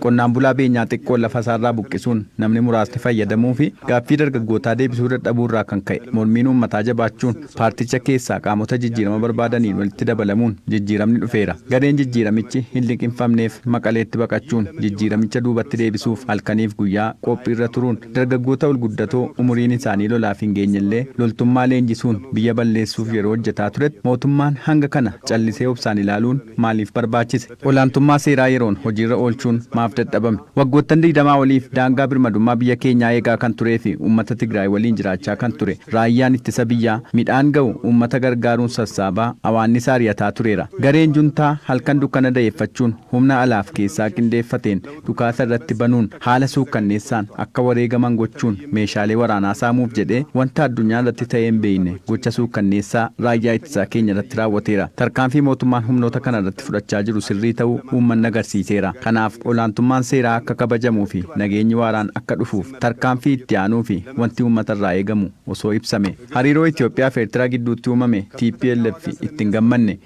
Qonnaan bulaa beenyaa xiqqoon lafasaarraa buqqisuun namni muraasni fayyadamuufi gaaffii dargaggootaa deebisuu dadhabuurraa kan ka'e mormiin uummataa jabaachuun paarticha keessaa qaamota jijjiirama barbaadaniin walitti dabalamuun jijjiiramni dhufeera. Gareen jijjiiramichi hinliqimfamneef Maqaleetti baqachuun jijjiiramicha duubatti deebisuuf halkaniif guyyaa qophiirra turuun dargaggoota olguddatoo umuriin isaanii lolaaf hingeenyellee loltummaa leenjisuun biyya balleessuuf yeroo hojjetaa turetti mootummaan hanga kana callisee obsaan ilaaluun maaliif barbaachise? olaantummaa seeraa yeroon hojiirra oolchuun maaf dadhabame? Waggoottan digdamaa oliif daangaa birmadummaa biyya keenyaa eegaa kan turee fi uummata Tigraay waliin jiraachaa kan ture Raayyaan Ittisa Biyyaa midhaan ga'u uummata gargaaruun sassaabaa awaannisa ari'ataa tureera. Gareen Juntaa halkan dukkana da'eeffachuun humna alaaf keessaa qindeeffateen dhukaasa irratti banuun haala suukkanneessaan akka wareegaman gochuun meeshaalee waraanaa saamuuf jedhee wanta addunyaa irratti ta'ee hin beekne gocha suukkanneessaa raayyaa ittisaa keenya irratti raawwateera. Tarkaanfii mootummaan humnoota kana irratti fudhachaa jiru sirrii ta'uu uummanni agarsiiseera. Kanaaf olaantummaan seeraa akka kabajamuu fi nageenyi waaraan akka dhufuuf tarkaanfii itti aanuu fi wanti uummata irraa eegamu osoo ibsame. Hariiroo Itiyoophiyaa fi Ertiraa gidduutti uumame tplf itti hin gammanne.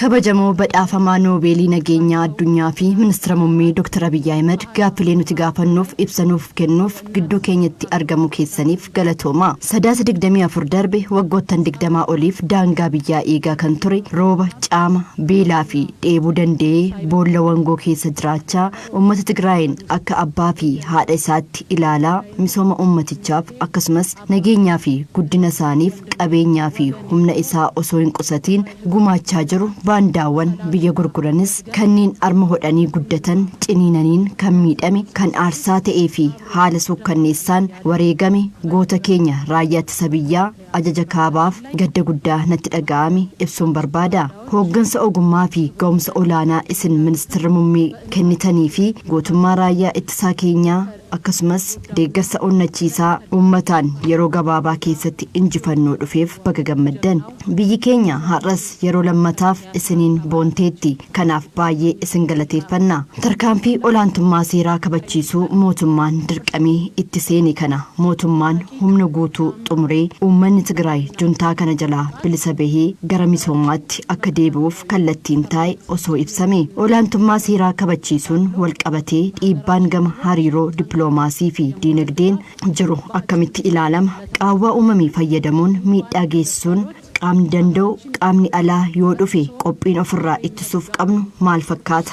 Kabajamoo Badhaafamaa Noobeelii Nageenyaa Addunyaa fi Ministira Mummee Dr. Abiy Ahimad gaaffilee nuti gaafannuuf ibsa nuuf kennuuf gidduu keenyatti argamuu keessaniif galatoomaa. Sadaasa 24 darbe waggoottan 20 oliif daangaa biyyaa eegaa kan ture rooba, caama, beelaa fi dheebuu danda'ee boolla wangoo keessa jiraachaa uummata Tigraayiin akka abbaa fi haadha isaatti ilaalaa misooma uummatichaaf akkasumas nageenyaa fi guddina isaaniif qabeenyaa fi humna isaa osoo hin qusatiin gumaachaa jiru baandaawwan biyya gurguranis kanneen arma hodhanii guddatan ciniinaniin kan miidhame kan aarsaa ta'ee fi haala suukkanneessaan wareegame goota keenya raayyaa ittisa biyyaa ajaja kaabaaf gadda guddaa natti dhaga'ame ibsuun barbaada hooggansa ogummaa fi ga'umsa olaanaa isin ministirri mummee kennitanii fi gootummaa raayyaa ittisaa keenyaa akkasumas deeggarsa onnachiisaa uummataan yeroo gabaabaa keessatti injifannoo dhufeef baga gammaddan. Biyyi keenya har'as yeroo lammataaf isiniin boonteetti. Kanaaf baay'ee isin galateeffanna. Tarkaanfii olaantummaa seeraa kabachiisuu mootummaan dirqamee itti seene kana mootummaan humna guutuu xumuree uummanni Tigraay juntaa kana jalaa bilisa bahee gara misoomaatti akka deebi'uuf kallattiin taa'e osoo ibsamee. Olaantummaa seeraa kabachiisuun walqabatee dhiibbaan gama hariiroo dippiloomaasii fi diinagdeen jiru akkamitti ilaalama? Qaawwaa uumame fayyadamuun miidhaa geessisuun qaamni danda'u qaamni alaa yoo dhufe qophiin ofirraa ittisuuf qabnu maal fakkaata?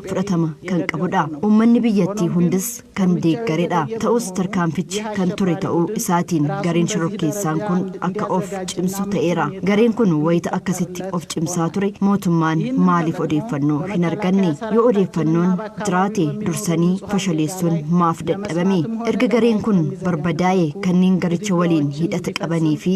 fudhatama kan qabudha. Uummanni biyyattii hundis kan deeggaredha. Ta'us tarkaanfichi kan ture ta'uu isaatiin gareen shororkeessaan kun akka of cimsu ta'eera. Gareen kun wayita akkasitti of cimsaa ture mootummaan maaliif odeeffannoo hin arganne? Yoo odeeffannoon jiraate dursanii fashaleessuun maaf dadhabame? Erga gareen kun barbadaa'e kanneen garicha waliin hidhata qabanii fi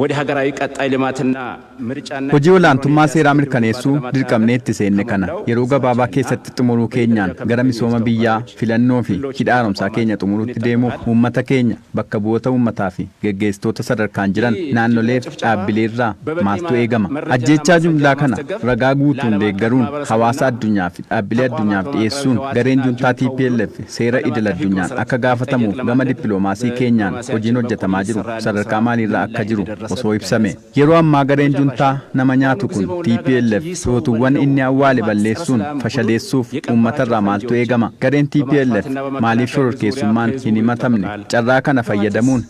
Wode hagaraawi qaxxaay limaatinna mircaanna Hojii olaantummaa seeraa mirkaneessuu dirqamnee itti seenne kana yeroo gabaabaa keessatti xumuruu keenyaan gara misooma biyyaa, filannoo fi hidha haaromsaa keenya xumuruutti deemuuf uummata keenya, bakka bu'oota uummataa fi geggeessitoota sadarkaan jiran naannolee fi dhaabbilee irraa maaltu eegama? Ajjeechaa jumlaa kana ragaa guutuun deeggaruun hawaasa addunyaa fi. dhaabbilee addunyaaf dhiyeessuun gareen juntaa tplf seera idil addunyaan akka gaafatamuuf gama dippiloomaasii keenyaan hojiin hojjetamaa jiru sadarkaa maaliirra akka jiru osoo ibsame. Yeroo ammaa gareen juntaa nama nyaatu kun tplf lootuuwwan inni awwaale balleessuun fashaleessuuf uummata irraa maaltu eegama? Gareen tplf maaliif shororkeessummaan hin himatamne? Carraa kana fayyadamuun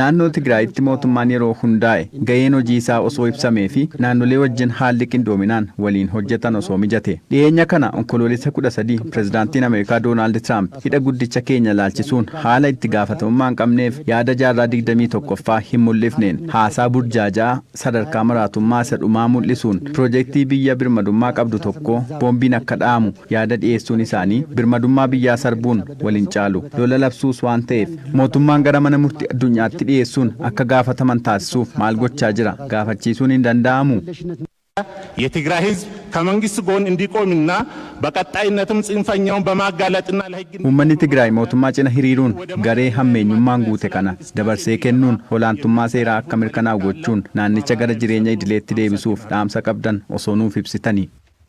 Naannoo Tigraayitti mootummaan yeroo hundaa'e gaheen hojii isaa osoo ibsamee fi naannolee wajjin haalli qindoominaan waliin hojjetan osoo mijate. Dhiheenya kana Onkoloolessa 13 Pirezidaantiin Ameerikaa Doonaald Tiraamp hidha guddicha keenya ilaalchisuun haala itti gaafatamummaa hin qabneef yaada jaarraa 21ffaa hin mul'ifneen haasaa burjaaja'aa sadarkaa maraatummaa isa dhumaa mul'isuun piroojektii biyya birmadummaa qabdu tokkoo boombiin akka dha'amu Yaada dhiyeessuun isaanii birmadummaa biyyaa sarbuun wal hin caalu. Lola labsuus waan ta'eef mootummaan gara mana murtii addunyaatti dhiyeessuun akka gaafataman taasisuuf maal gochaa jira? Gaafachiisuun hin danda'amuu? Yetigraay hizb kamangist goon indiqoominna baqaxxaayinnatum tsinfanyawun bamaaggaalaxinna lahigginna Uummanni Tigraay mootummaa cina hiriiruun garee hammeenyummaan guute kana dabarsee kennuun olaantummaa seeraa akka mirkanaa'u gochuun naannicha gara jireenya idileetti deebisuuf dhaamsa qabdan osoo nuuf ibsitani?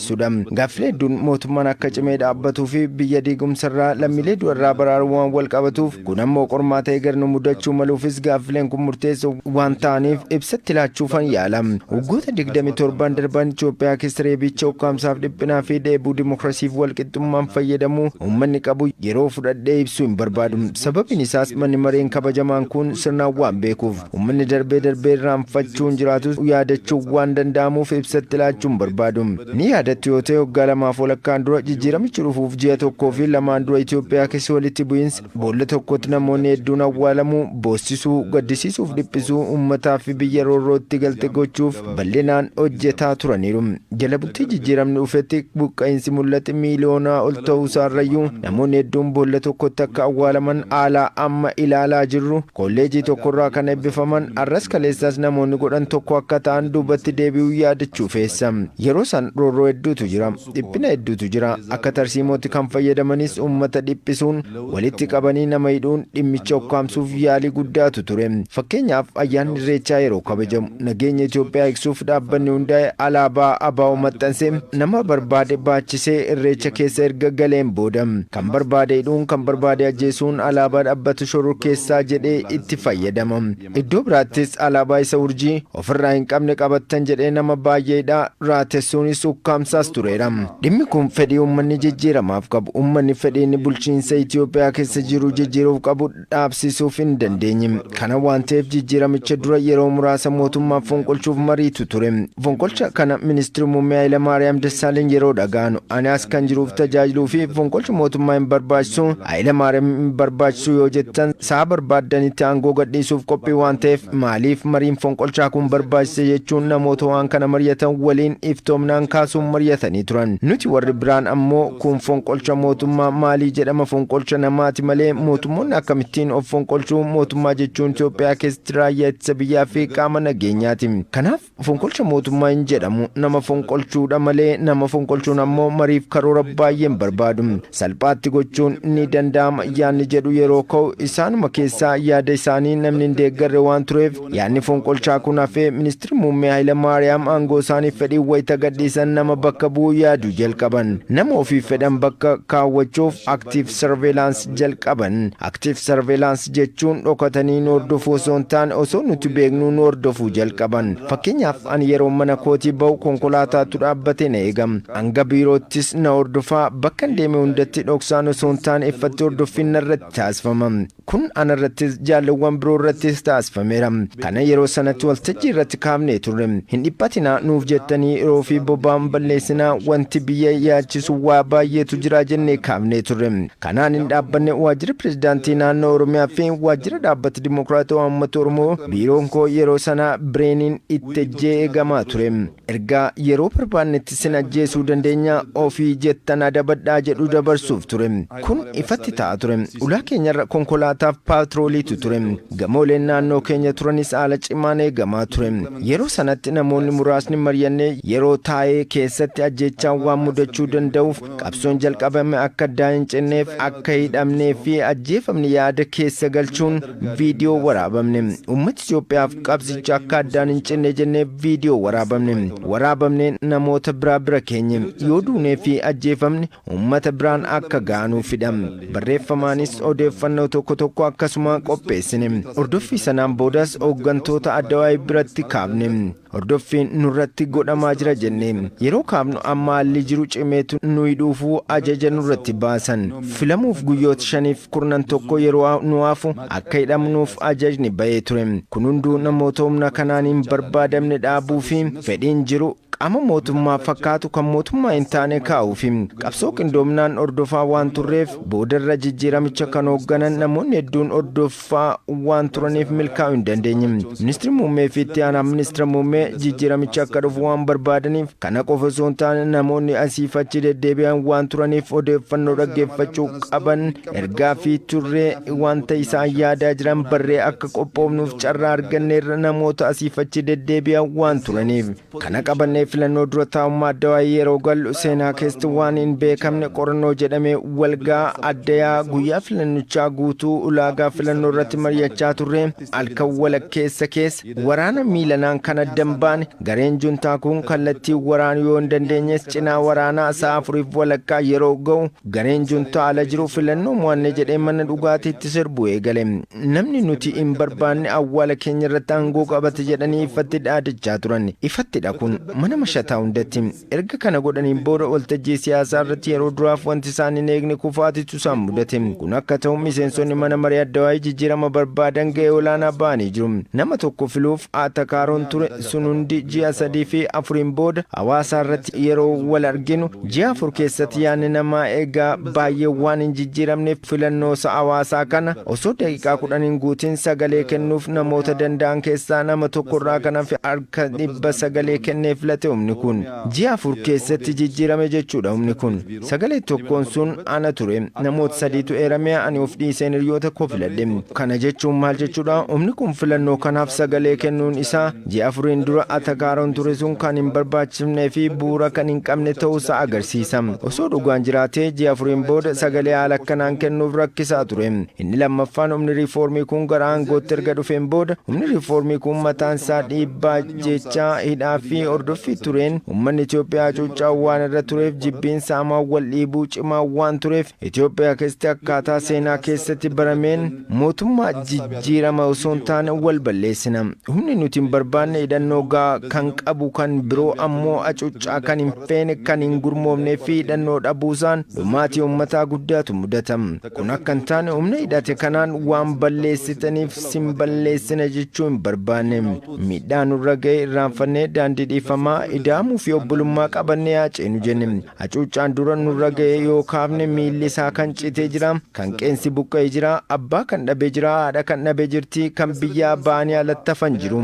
sudha. Gaaffilee hedduun mootummaan akka cimee dhaabbatuu fi biyya diigumsa irraa, lammiilee du'a irraa baraaruun waan wal qabatuuf, kun ammoo qormaata eeger nu mudachuu maluufis gaaffileen kun murteessoo waan ta'aniif ibsa itti laachuufan yaala. Waggoota 27n darban Itoophiyaa keessa reebicha, ukkaamsaaf dhiphinaa fi dheebuu dimokrasiif wal qixxummaan fayyadamuu uummanni qabu yeroo fudhadhee ibsuu hin barbaadu. Sababiin isaas manni mareen kabajamaan kun sirnaan waan beekuuf. Ummanni darbee darbee irraanfachuun jiraatus yaadachuun waan danda'amuuf ibsatti laachuu hin barbaadu. Ni yaadattu yoo ta'e waggaa lamaaf walakkaan dura jijjiiramichi dhufuuf ji'a tokkoo fi lamaan dura Itoophiyaa keessa walitti bu'iinsa boolla tokkotti namoonni hedduun awwaalamuu, boossisuu, gaddisiisuuf dhiphisuu, ummataa fi biyya roorrootti galte gochuuf bal'inaan hojjetaa turaniiru. Jala bultii jijjiiramni dhufetti buqqa'iinsi mul'ate miiliyoonaa ol ta'uusaarrayyuu namoonni hedduun boolla tokkotti akka awwaalaman haala amma ilaalaa jirru Kolleejii tokkorraa kan eebbifaman arras kaleessas namoonni godhan tokko akka ta'an duubatti deebi'uun yaadachuu feessa. Yeroo san roorroo hedduutu jira. Dhiphina hedduutu jira. Akka tarsiimootti kan fayyadamanis ummata dhiphisuun, walitti qabanii nama hidhuun, dhimmicha ukkaamsuuf yaalii guddaatu ture. Fakkeenyaaf ayyaanni Irreechaa yeroo kabajamu. Nageenya Itoophiyaa eegsuuf dhaabbanni hundaa'e alaabaa ABO maxxansee nama barbaade baachisee irreecha keessa erga galeen booda kan barbaade hidhuun kan barbaade ajjeesuun alaabaa dhabbata shororkeessaa jedhee itti fayyadama. Iddoo biraattis alaabaa isa urjii ofirraa hin qabne qabattan jedhee nama baay'ee hidhaa, raatessuunis ukkaamsaas tureera. Dhimmi kun fedhii uummanni jijjiiramaaf qabu, uummanni fedhiin bulchiinsa Itoophiyaa keessa jiru jijjiiruuf qabu, dhaabsisuuf hin dandeenye. Kana waan ta'eef jijjiiramicha dura yeroo muraasa mootummaa fonqolchuuf mariitu ture. Fonqolcha kana Ministirri Muummee Hayilamaariyaam Dassaaleny yeroo dhaga'anu ani as kan jiruuf tajaajiluu fi fonqolchi mootummaa hin barbaachisu, Hayilamaariyaam hin barbaachisu yoo jettan sa'a barbaaddanitti aangoo gadhiisuuf qophii waan ta'eef maaliif mariin fonqolchaa kun barbaachise jechuun namoota waan kana mari'atan waliin iftoomnaan kaasuun mari'atanii turan. Nuti warri biraan ammoo Kun fonqolcha mootummaa maalii jedhama fonqolcha namaati malee mootummoonni akkamittiin of fonqolchu mootummaa jechuun Itoophiyaa keessatti raayyaa ittisa biyyaa fi qaama nageenyaati kanaaf fonqolcha mootummaa hin jedhamu nama fonqolchuudha malee nama fonqolchuun ammoo mariif karoora baay'een barbaadu salphaatti gochuun ni danda'ama yaanni jedhu yeroo ka'u isaanuma keessaa yaada isaanii namni hin deeggarre waan tureef Yaadni fonqolchaa kun hafee Ministirri Muummee Hayilamaariyaam aangoo isaaniif fedhiin wayita gadhiisan nama bakka bu'uu yaaduu jalqaban. Nama ofiif fedhan bakka kaawwachuuf active surveillance jalqaban. Active surveillance jechuun dhokatanii nu hordofuu osoo hin taane osoo nuti beeknuu nu hordofuu jalqaban. Fakkeenyaaf ani yeroon mana kootii bahu konkolaataatu dhaabbatee na eega. Hanga biiroottis na hordofa. Bakkan deeme hundatti dhoksaan osoo hin taane iffatti hordoffiin narratti taasifama. Kun ana irrattis jaallewwan biroo irrattis taasifameera. Kana yeroo sanatti waltajjii irratti kaafnee turre. Hin dhiphatinaa nuuf jettanii yeroo fi boba'aan balleessinaa wanti biyya yaachisu waa baay'eetu jira jennee kaafnee turre. Kanaan hin dhaabbanne Waajjira Pirezidaantii Naannoo Oromiyaa fi Waajjira Dhaabbata Dimokiraatawaa Uummata Oromoo biiroon koo yeroo sana bireeniin itti ejjee eegamaa ture. Ergaa yeroo barbaannetti sin ajjeesuu dandeenya ofii jettan adabadhaa jedhu dabarsuuf ture. Kun ifatti ta'a ture. Ulaa keenyarra konkolaataaf paatrooliitu ture. Gamooleen naannoo keenya turanis haala cimaan eegamaa ture. Yeroo sanatti namoonni muraasni maryannee yeroo taa'ee keessatti ajjeechaan waan mudachuu danda'uuf qabsoon jalqabame akka addaa hin cinneef akka hidhamnee fi ajjeefamne yaada keessa galchuun viidiyoo waraabamne ummata Itoophiyaaf qabsicha akka addaan hin cinne jennee viidiyoo waraabamne waraabamne namoota biraa bira keenye yoo duunee fi ajjeefamne ummata biraan akka gaanuufidha barreeffamaanis odeeffannoo tokko tokko akkasuma qopheessine hordoffii sanaan boodas hooggantoota addawaayii biratti kaafne Hordoffiin nurratti godhamaa jira jennee yeroo kaafnu amma haalli jiru cimeetu nuyi dhuufuu ajaja nurratti baasan. Filamuuf guyyoota shaniif kurnan tokko yeroo nu hafu akka hidhamnuuf ajajni bahee ture. Kun hunduu namoota humna kanaan hin barbaadamne dhaabuu fi fedhiin jiru qaama mootummaa fakkaatu kan mootummaa hin taane kaa'uufi. Qabsoo qindoominaan hordofaa waan turreef boodarra jijjiiramicha kan hoogganan namoonni hedduun hordoffii faa waan turaniif milkaa'uu hin dandeenye. Ministirri muummee fi itti aanaa ministira muummee jijjiiramichi akka dhufu waan barbaadaniif kana qofa osoo hin taane namoonni asiif achi deddeebi'an waan turaniif odeeffannoo dhaggeeffachuu qaban ergaa fi turree wanta isaan yaadaa jiran barree akka qophoofnuuf carraa arganneerra namoota asiif achi deddeebi'an waan turaniif. Kana qabannee filannoo dura taa'ummaa Addawaayii yeroo gallu seenaa keessatti waan hin beekamne qorannoo jedhamee walgaa addayaa guyyaa filannichaa guutuu ulaagaa filannoo irratti mari'achaa turre halkan walakkeessa keessa waraana miilanaan kan addan baane gareen juntaa kun kallattii waraanu yoo hin dandeenyes cinaa waraanaa sa'a afuriif walakkaa yeroo ga'u gareen juntaa ala jiru filannoo mo'anne jedhee mana dhugaatiitti sirbu eegale. Namni nuti hin barbaanne awwaala keenya irratti aangoo qabate jedhanii iffatti dhaadachaa turan. Ifattidha kun, mana mashataa hundatti. Erga kana godhaniin booda waltajjii siyaasaa irratti yeroo duraaf wanti isaan hin eegne kufaatitu isaan mudate. Kun akka ta'u miseensonni Mana Maree Addawaayii jijjiirama barbaadan ga'ee olaanaa ba'anii jiru. Nama tokko filuuf Atakaaroon ture, sun hundi ji'a sadii fi afuriin booda hawaasaa irratti yeroo wal arginu ji'a afur keessatti yaanni namaa egaa baay'ee waan hin jijjiiramneef filannoo isa hawaasaa kana osoo daqiiqaa kudhan hin guutin sagalee kennuuf namoota danda'an keessaa nama tokko irraa kan hafe harka dhibba sagalee kennee filate humni kun. Ji'a afur keessatti jijjiirame jechuudha humni kun. Sagalee tokkoon sun ana ture. Namoota sadiitu eerame, ani of dhiiseen hiriyoota koo filadhe. Kana jechuun maal jechuudha? Humni kun filannoo kanaaf sagalee kennuun isaa ji'a afuriin dura atakaaroon ture sun kan hin barbaachifnee fi bu'uura kan hin qabne ta'uu isaa agarsiisa. Osoo dhugaan jiraatee ji'a afuriin booda sagalee haala akkanaan kennuuf rakkisaa ture. Inni lammaffaan humni riifoormii kun gara aangootti erga dhufeen booda humni riifoormii kun mataan isaa dhiibbaa Ajjeechaa, hidhaa fi hordoffii tureen ummanni Itoophiyaa hacuuccaa waan irra tureef jibbiinsa hamaa wal dhiibuu cimaa waan tureef Itoophiyaa keessatti akkaataa seenaa keessatti barameen mootummaa jijjiirama osoo hin taane wal balleessina. Humni nuti hin barbaanne hidhannoo gahaa kan qabu kan biroo ammoo hacuuccaa kan hin feene kan hin gurmoofnee fi hidhannoo dhabuusaan dhumaatii ummataa guddaatu mudata. Kun akka hin taane humna hidhate kanaan waan balleessitaniif sin balleessina jechuu hin barbaanne. Miidhaa nurra ga'e irraanfannee daandii dhiifamaa, ida'amuu fi obbolummaa qabannee haa ceenu jenne. Hacuuccaan dura nurra ga'e yoo kaafne miilli isaa kan citee jira, kan qeensi buqqa'e jira, abbaa kan dhabe jira, haadha kan dhabe jirti, kan biyyaa ba'anii alatti hafan jiru.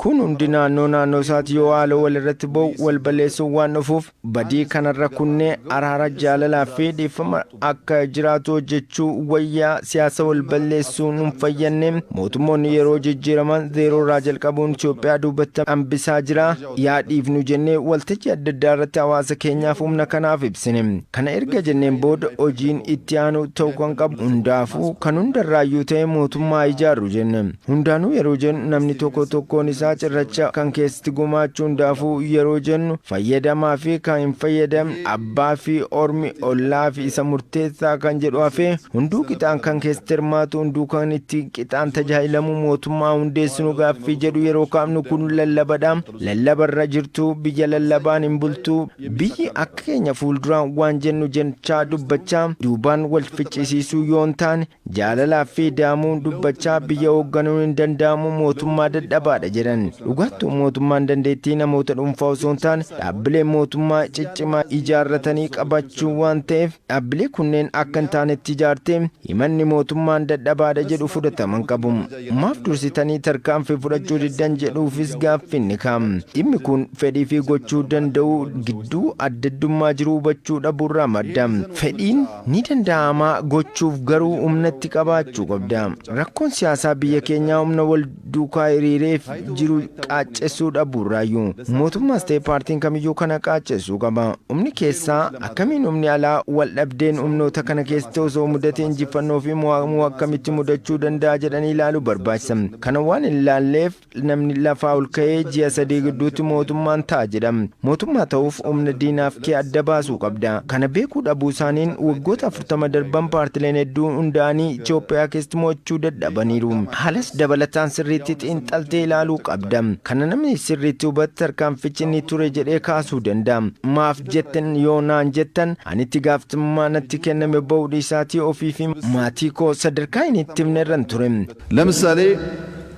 Kun hundi naannoo naannoo isaati yoo haaloo walirratti ba'u, wal balleessuun waan dhufuuf Badii kanarra kunnee araara jaalalaa fi dhiifama akka jiraatu hojjechuu wayyaa siyaasa wal balleessuu nun fayyanne mootummoonni yeroo jijjiiraman zeeroo irraa jalqabuun Itoophiyaa duubatti hambisaa jira yaa dhiifnu jennee waltajjii adda addaa irratti hawaasa keenyaaf humna kanaaf ibsine kana erga jenneen booda hojiin itti aanu ta'u kan qabu hundaafuu kan hundarraayyuu ta'e mootummaa ijaarru jenne. Hundaanuu yeroo jennu namni tokko tokkoon isaa cirracha kan keessatti gumaachu hundaafuu yeroo jennu fayyadamaa fi kan hin fayyadamne abbaa fi ormi ollaa fi isa murteessaa kan jedhu hafee hunduu qixaan kan keessatti hirmaatu hunduu kan itti qixaan tajaajilamu mootummaa hundeessinu gaaffii jedhu yeroo kaafnu kun lallabadha lallabarra jirtu biyya lallabaan hin bultu biyyi akka keenya fuulduraan waan jennu jechaa dubbachaa duubaan wal ficcisiisuu yoo hin taane Jaalalaaf fi ida'amuun dubbachaa biyya hoogganuun hin danda'amu mootummaa dadhabaadha jedhan. Dhugaattuu mootummaan dandeettii namoota dhuunfaa osoo hin taane dhaabbilee mootummaa ciccimaa ijaarratanii qabachuu waan ta'eef dhaabbilee kunneen akka hin taanetti ijaartee himanni mootummaan dadhabaadha jedhu fudhatama hin qabu. Maaf dursitanii tarkaanfii fudhachuu diddan jedhuufis gaaffiin ni ka'a. Dhimmi kun fedhii fi gochuu danda'uu gidduu addaddummaa jiru hubachuu dhabuurraa madda. Fedhiin. Ni danda'ama gochuuf garuu humna itti qabaachuu qabda. Rakkoon siyaasaa biyya keenyaa humna wal duukaa hiriireef jiru qaaccessuu dhabuu irraayyu. Mootummaas ta'e paartiin kamiyyuu kana qaaccessuu qaba. Humni keessaa akkamiin humni alaa wal dhabdeen humnoota kana keessatti osoo mudate injiffannoo fi mo'amuu akkamitti mudachuu danda'a jedhanii ilaaluu barbaachisa. Kana waan hin ilaalleef Namni lafaa ol ka'ee ji'a sadii gidduutti mootummaan ta'a jedha. Mootummaa ta'uuf humna diinaaf kee adda baasuu qabda. Kana beekuu dhabuu isaaniin waggoota 40 darban paartileen hedduun hundaa'anii Itoophiyaa keessatti mo'achuu dadhabaniiru. Haalas dabalataan sirriitti xiinxaltee ilaaluu qabda. Kana namni sirriitti hubate tarkaanfichi ni ture jedhee kaasuu danda'a. Maaf jettan yoo naan jettan ani itti gaafatamummaa natti kenname ba'uu dhiisaatii ofii fi maatii koo sadarkaa hin itti himne irran ture. ለምሳሌ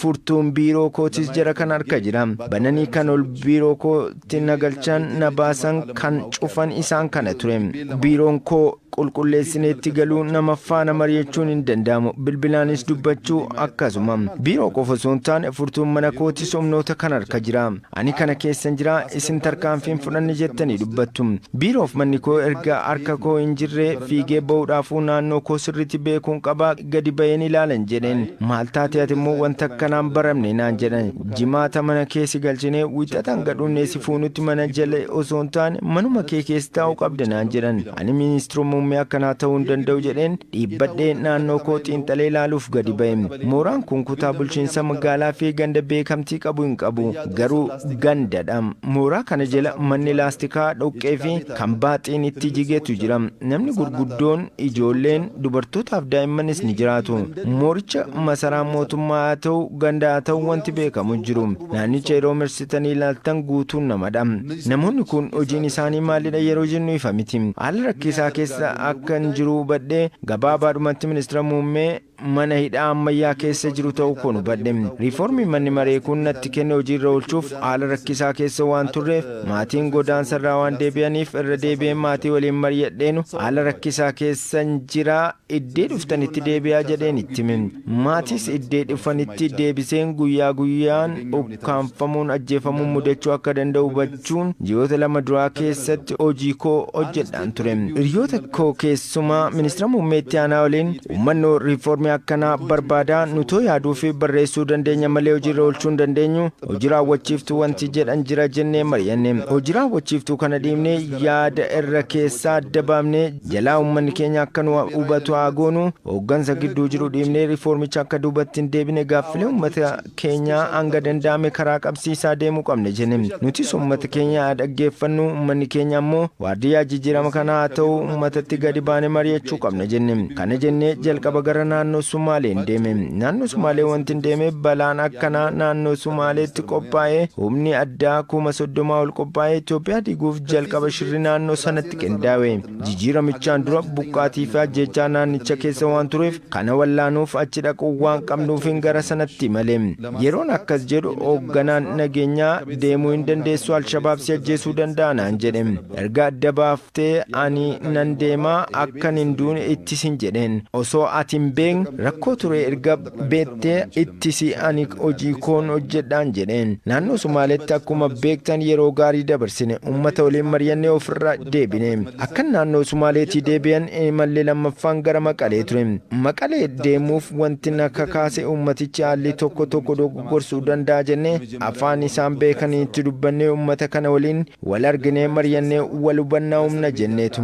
furtuun biiroo kootis jara kana harka jira. Bananii kan ol biiroo kootti na galchan, na baasan, kan cufan isaan kana ture. Biiroon koo qulqulleessinee itti galuu nama faana mari'achuun hin danda'amu. Bilbilaanis dubbachuu akkasuma. Biiroo qofa osoo hin taane furtuun mana kootis humnoota kana harka jira. Ani kana keessan jira, isin tarkaanfii hin fudhanne jettanii dubbattu. Biiroof manni koo erga harka koo hin jirree, fiigee ba'uudhaafuu naannoo koo sirriitti beekuun qaba, gadi ba'een ilaalan jedheen. Maal taate ati immoo wanta akkanaa hin baramne naan jedhan. Jimaata mana kee si galchinee, Wiixata hanga dhunnee si fuunutti mana jala osoo hin taane manuma kee keessa taa'uu qabda naan jedhan. Ani ministira muummee akkanaa ta'uu hin danda'u jedheen. Dhiibbadhee naannoo koo xiinxalee ilaaluuf gadi ba'e. Mooraan kun kutaa bulchiinsa magaalaa fi ganda beekamtii qabu hin qabu. Garuu ganda dha. Mooraa kana jala manni laastikaa, dhoqqee fi kan baaxiin itti jigetu jira. Namni gurguddoon, ijoolleen, dubartootaa fi daa'immanis ni jiraatu. Mooricha masaraan mootummaa haa ta'u, ganda haa ta'u wanti beekamu hin jiru. Naannicha yeroo marsitanii ilaaltan guutuun nama dha. Namoonni kun hojiin isaanii maallidha yeroo jennu ifa miti. Haala rakkisaa keessa akkan jiru hubadhe, gabaabaadhumatti Ministira Muummee mana hidhaa ammayyaa keessa jiru ta'uu koon hubadhe. Riifoormii manni maree kun natti kenne hojii irra oolchuuf haala rakkisaa keessa waan turreef, maatiin godaansa irraa waan deebi'aniif irra deebi'een maatii waliin maryadheenu haala rakkisaa keessan jira iddee dhuftanitti deebi'aa jedheen itti hime. Maatiis iddee dhufanitti deebiseen guyyaa guyyaan ukkaamfamuun ajjeefamuun mudachuu akka danda'u hubachuun ji'oota lama duraa keessatti hojii koo hojjedhaan ture. Hiriyoota koo keessumaa ministira muummee itti aanaa waliin uummanni riifoormii akkanaa barbaadaa nutoo yaaduu fi barreessuu dandeenya malee hojiirra oolchuu hin dandeenyu hojii raawwachiiftuu wanti jedhan jira jennee mari'anne hojii raawwachiiftuu kana dhiibnee yaada irra keessaa adda baafnee jalaa uummanni keenya akka nu hubatu haa goonu hooggansa gidduu jiru dhiibnee riifoormicha akka duubatti hin deebine gaaffilee uummata keenya hanga danda'ame karaa qabsiisaa deemuu qabna jene. Nutis uummata keenya haa dhaggeeffannu, uummanni keenya ammoo waardiyyaa jijjiirama kanaa haa ta'u, uummatatti gadi baane mari'achuu qabna jenne. Kana jennee jalqaba gara naannoo Sumaaleen deeme. Naannoo Sumaalee wantin deemeef balaan akkanaa naannoo Sumaaleetti qophaa'ee humni addaa kuma soddomaa ol qophaa'ee Itoophiyaa diiguuf jalqaba shirri naannoo sanatti qindaawe. Jijiiramichaan dura buqqaatii fi ajjeechaa naannicha keessa waan tureef kana wallaanuuf achi dhaquu waan qabnuufin gara sanatti imale. Yeroon akkas jedhu hoogganaan nageenyaa deemuu hin dandeessu Alshabaab si ajjeesuu danda'a naan jedhe. Erga adda baaftee ani nan deema akkan hin duune ittisin jedheen. Osoo ati hin beekne rakkoo ture erga beektee ittisi ani hojii koon hojjedhaan jedheen. Naannoo Somaaleetti akkuma beektan yeroo gaarii dabarsine. Ummata waliin mari'annee ofirra deebine. Akkan naannoo Somaaleetii deebi'en imalli lammaffaan gara Maqalee ture. Maqalee deemuuf wanti na kakaase ummatichi haalli tokko tokko dogoggorsuu danda'a jennee afaan isaan beekaniitti dubbannee ummata kana waliin Wal arginee maryannee wal hubannaa uumna jenneetu.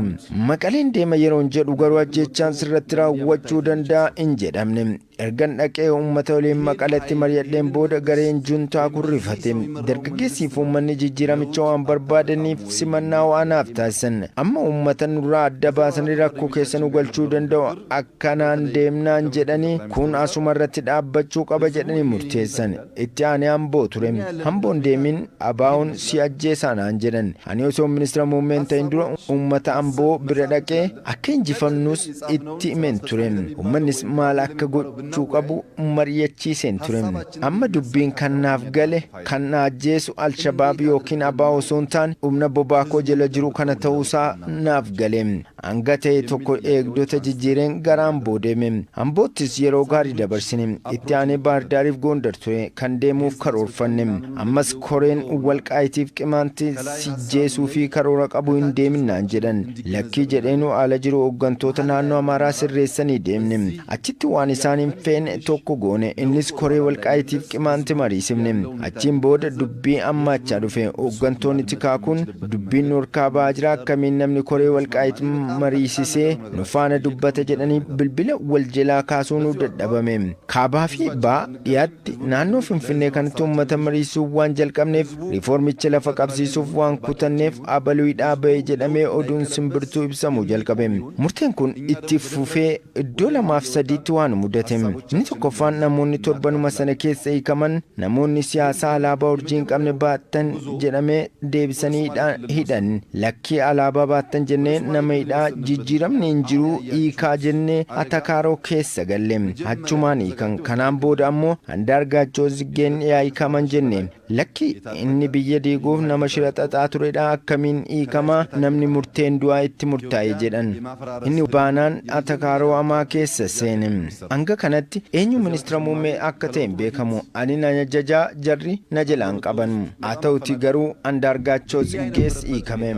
Maqaleen deema yeroon jedhu garuu ajjeechaan sirratti raawwachuu danda'a hin jedhamne. Ergan dhaqee uummata waliin Maqaletti maryadheen booda gareen juntaa kun rifate. Dargaggeessiifi uummanni jijjiiramicha waan barbaadaniif simannaa ho'aa naaf taasisan. Amma uummata nurraa adda baasanii rakkoo keessa nu galchuu danda'u. Akkanaan deemnaan jedhanii kun asumarratti dhaabbachuu qaba jedhanii murteessan. Itti aanee Amboo ture. Amboo hin deemin ABOn si ajjeesaa naan jedhan. Ani osoon Ministira Muummee hin ta'in dura uummata Amboo bira dhaqee akka injifamnus itti himeen ture. Uummannis maal akka gochuu qabu mari'achiiseen ture. Amma dubbiin kan naaf gale kan na ajjeesu Alshabaab ykn ABO osoo hin taane humna bobaa koo jala jiru kana ta'uu isaa naaf gale. Hanga ta'e tokko eegdota jijjiireen gara Amboo deeme. Amboottis yeroo gaarii dabarsine. Itti aanee Baahirdaariif Goondar ture kan deemuuf karoorfanne. Ammas koreen Walqaayitiif Qimaanti si jeesuufi karoora qabu hin deemin naan jedhan. Lakkii jedheenuu ala jiru hoggantoota naannoo Amaaraa sirreessanii deemne. Achitti waan isaan hin feene tokko goone. Innis koree Walqaayitiif Qimaanti mariisifne. Achiin booda dubbii ammaachaa dhufe. Hooggantoonni tikaa kun dubbiin nu horkaa bahaa jira akkamiin namni koree Walqaayit mariisisee nu faana dubbata jedhanii bilbila wal jelaa kaasuunuu dadhabame. Kaabaa fi Baha, Dhiyaatti, tti naannoo Finfinnee kanatti uummata mariisuu waan jalqabneef riifoormicha lafa qabsiisuuf waan kutanneef abaluidhaa ba'e jedhamee oduun simbirtuu ibsamuu jalqabe. Murteen kun itti fufee iddoo lamaaf sadiitti waa nu mudate. Inni tokkoffaan namoonni torbanuma sana keessa hiikaman namoonni siyaasaa alaabaa urjii hin qabne baattan jedhamee deebisanii hidhan lakkii alaabaa baattan jenne nama hidhaa jijjiiramni hin jiruu hiikaa jenne atakaaroo keessa galle achumaan hiikan kanaan booda ammoo andaargaachoo ziggeen yaa hiikaman jenne lakki inni biyya diiguuf nama shira xaxaa turedha akkamiin hiikama namni murteen du'aa itti murtaa'e jedhan inni baanaan atakaaroo amaa keessa seene. Hanga kanatti eenyu ministira muummee akka ta'e hin beekamu. Ani nan ajaja, jarri na jalaa hin qaban. Haa ta'uutii garuu Andaargaachoo Tsiggees hiikame.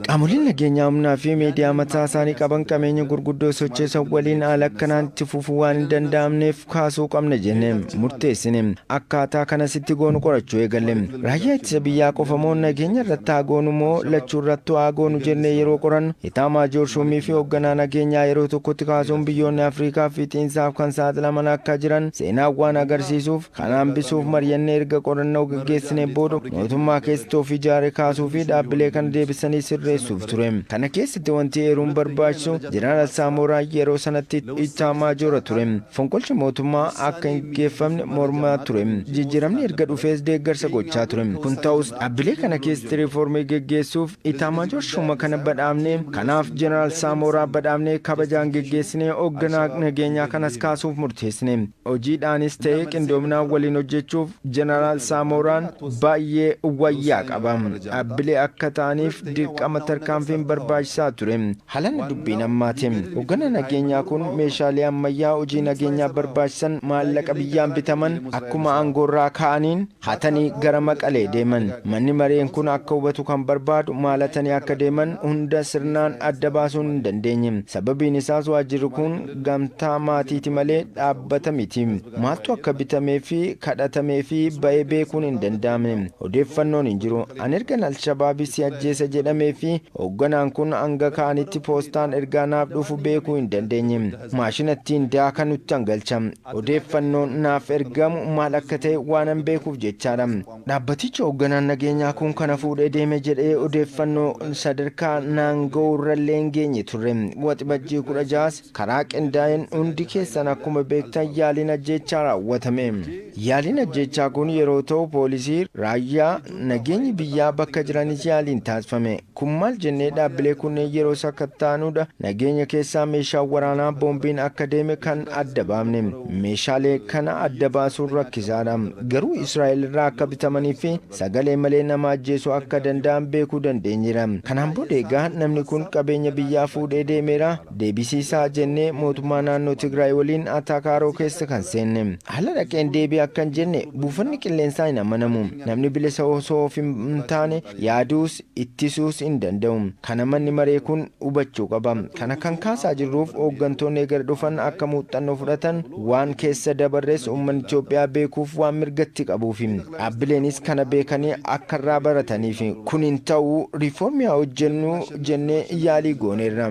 Qaamoleen nageenyaa humnaa fi miidiyaa mataa isaanii qaban qameenya gurguddoo socheessan waliin haala akkanaan itti fufuu waan hin danda'amneef kaasuu qabna jenne murteessine. Akkaataa kanas itti goonu qorachuu eegalle. Raayyaa ittisa biyyaa qofa moo nageenya irratti haa goonu moo lachuu irrattuu haa goonu jennee yeroo qorannu Itaamaajoor Shuumii fi Hogganaa Nageenyaa yeroo tokkotti kaasuun biyyoonni Afrikaa fiixiinsaaf kan saaxilaman akka jiran seenaan waan agarsiisuuf kana hambisuuf maryannee erga qorannoo gaggeessineen booda mootummaa keessatti of ijaare kaasuu fi dhaabbilee kana deebisanii sirreessuuf ture. Kana keessatti wanti eeruun barbaachisu Jeneraal Saamooraa yeroo sanatti Itaamaajoora ture. Fonqolchi mootummaa akka hin gaggeeffamne mormaa ture. Jijjiiramni erga dhufees deeggarsa gochaa ture. Kun ta'us dhaabbilee kana keessatti riifoormii gaggeessuuf Itaamaajoor Shuuma kana badhaafne. Kanaaf Jeneraal Saamooraa badhaafnee kabajaan geggeessinee hogganaa nageenyaa kanas kaasuuf murteessine. Hojiidhaanis ta'ee qindoominaan waliin hojjechuuf Jeneraal Saamooraan baay'ee wayyaa qaba. Dhaabbilee akka ta'aniif dirqama tarkaanfiin barbaachisaa ture. Haalan dubbiin ammaati. Hogganaa nageenyaa kun meeshaalee ammayyaa hojii nageenyaa barbaachisan maallaqa biyyaan bitaman akkuma aangoorraa ka'aniin, hatani gara Maqalee deeman. Manni mareen kun akka hubatu kan barbaadu maal hatani akka deeman hunda sirnaan adda baasuun hin dandeenye. Sababiin isaas waajjirri kun gamtaa maatiiti malee dhaabbata miti. Maaltu akka bitamee fi kadhatamee fi ba'e beekuun hin danda'amne. Odeeffannoon hin jiru. An ergan Alshabaabi si ajjeesa jedhamee fi hoogganaan kun hanga ka'anitti poostaan ergaa naaf dhufu beekuu hin dandeenye. Maashina ittiin daakanutti an galcha. Odeeffannoon naaf ergamu maal akka ta'e waanan beekuuf jechaadha. Dhaabbatichi hoogganaan nageenyaa kun kana fuudhee deeme jedhee odeeffannoo sadarkaa naan ga'urrallee hin geenye turre. Waxibajjii 16s karaa qindaa'een hundi keessan akkuma beektan yaaliin ajjeechaa raawwatame. Yaaliin ajjeechaa kun yeroo ta'u poolisii, raayyaa, nageenyi biyyaa bakka jiranis yaaliin taasifame. Kun maal jennee dhaabbilee kunneen yeroo sakattaanuudha nageenya keessaa meeshaan waraanaa boombiin akka deeme kan adda baafne. Meeshaalee kana adda baasuun rakkisaadha. Garuu Israa'el irraa akka bitamanii fi sagalee malee nama ajjeesuu akka danda'an beekuu dandeenyeera. Kanaan booda egaa namni kun qabeenya biyyaa fuudhee deemeera deebisiisaa jennee mootummaa naannoo Tigraay waliin ataakaaroo keessa kan seenne. Ala dhaqeen deebi'i akka hin jenne buufanni qilleensaa hin amanamu. Namni bilisa osoo of hin taane yaaduus, ittisuus hin danda'u. Kana manni maree kun hubachuu qaba. Kana kan kaasaa jirruuf hooggantoonni eger dhufan akka muuxxannoo fudhatan, waan keessa dabarres uummanni Itoophiyaa beekuuf waan mirga itti qabuufi. Dhaabbileenis kana beekanii akka irraa barataniifi. Kun hin ta'u, riifoormii haa hojjennu jennee yaalii gooneerra.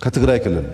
ka Tigraay Kilil.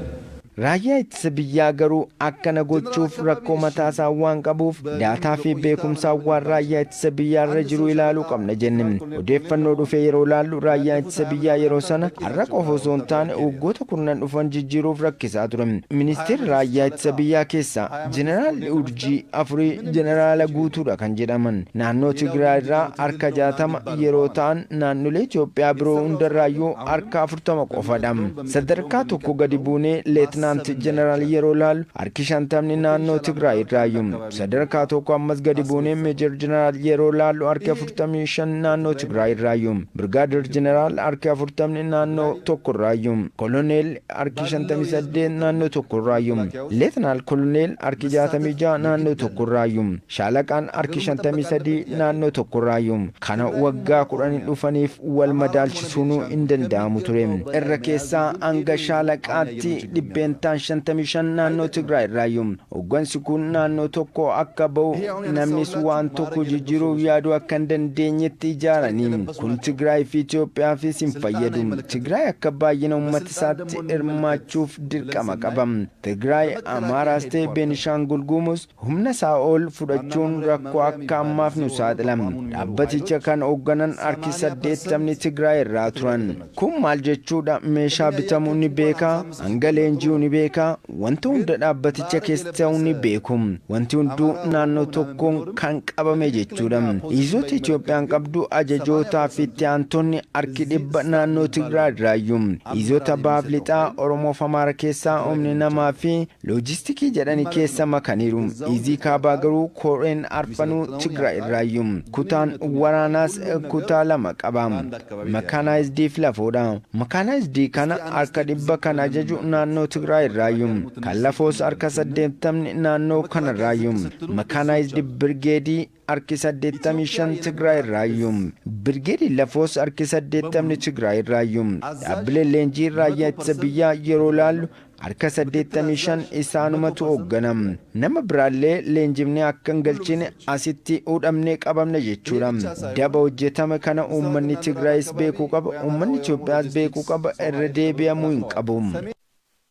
Raayyaa Ittisa Biyyaa garuu akkana gochuuf rakkoo mataasaa waan qabuuf daataa fi beekumsaan waan Raayyaa Ittisa Biyyaarra jiru ilaaluu qabna jenne. Odeeffannoo dhufe yeroo ilaallu Raayyaan Ittisa Biyyaa yeroo sana har'a qofa osoo hin taane waggoota kurnan dhufan jijjiiruuf rakkisaa ture. Ministeera Raayyaa Ittisa Biyyaa keessaa Jeneraalli Urjii afurii Jeneraala guutuudha kan jedhaman naannoo Tigraayirraa harka 60 yeroo ta'an naannolee Itoophiyaa biroo hundarraayyuu harka shantama qofadha. Sadarkaa tokko gadi buunee Leetinaant Jeneraal yeroo ilaallu harki shantamni naannoo Tigraay irraayu. Sadarkaa tokko ammas gadi buunee Meejar Jeneraal yeroo ilaallu harki afurtamii shan naannoo Tigraay irraayu. Birgaader Jeneraal harki afurtamni naannoo tokko irraayu. Koloneel harki shantamii saddeet naannoo tokko irraayu. Leetinaal Koloneel harki jaatamii ja'a naannoo tokko irraayu. Shaalaqaan harki 53 naannoo tokkorraayu. Kana waggaa kudhan dhufaniif wal madaalchisuunuu hin danda'amu ture. Irra keessaa hanga shaalaqaatti dhibbeentaan 55 naannoo Tigraay irraayu. Hoggansi kun naannoo tokko akka bahu namnis waan tokko jijjiiruuf yaaduu akka hin dandeenyetti ijaarani. Kun Tigraay fi Itoophiyaafis hin fayyadu. Tigraay akka baay'ina ummata isaatti hirmaachuuf dirqama qaba. Tigraay, Amaaraas ta'e Beenishaangul Gumuz Humna Saa'ol fudhachuun rakkoo akka ammaaf nu saaxila. Dhaabbaticha kan hoogganan harki 80'ni Tigraay irraa turan. Kun maal jechuudha? Meeshaa bitamu ni beeka, hanga leenji'u ni beeka, wanti hunda dhaabbaticha keessa ta'u ni beeku. Wanti hunduu naannoo tokkoon kan qabame jechuudha. Iizoota Itoophiyaan qabdu ajajootaa fi itti aantonni harki dhibba naannoo Tigraay irraayyu. Iizoota Bahaaf Lixaa, Oromoof Amaara keessaa humni namaa fi Loojistikii jedhani keessa makaniiru. Izii kaabaa garuu koreen arfanuu Tigraay irraayyu. Kutaan waraanaas kutaa lama qaba. Makaanaayizdii fi lafoodha. Makaanaayizdii kana harka dhibba kan ajaju naannoo Tigraay irraayyu. Kan lafoos harka saddeettamni naannoo kanarraayyu. Makaanaayizdi birgeedii harki 85 Tigraay irraayyu. Birgeedii Lafoos harki 80 Tigraay irraayyu. Dhaabbileen leenjii raayyaa ittisa biyyaa yeroo ilaallu harka 85 isaanumatu hooggana. Nama biraallee leenjifnee akka hin galchine asitti hudhamnee qabamna jechuudha. Daba hojjetame kana uummanni Tigraayis beekuu qaba, uummanni Itoophiyaas beekuu qaba, irra deebi'amuu hin qabu.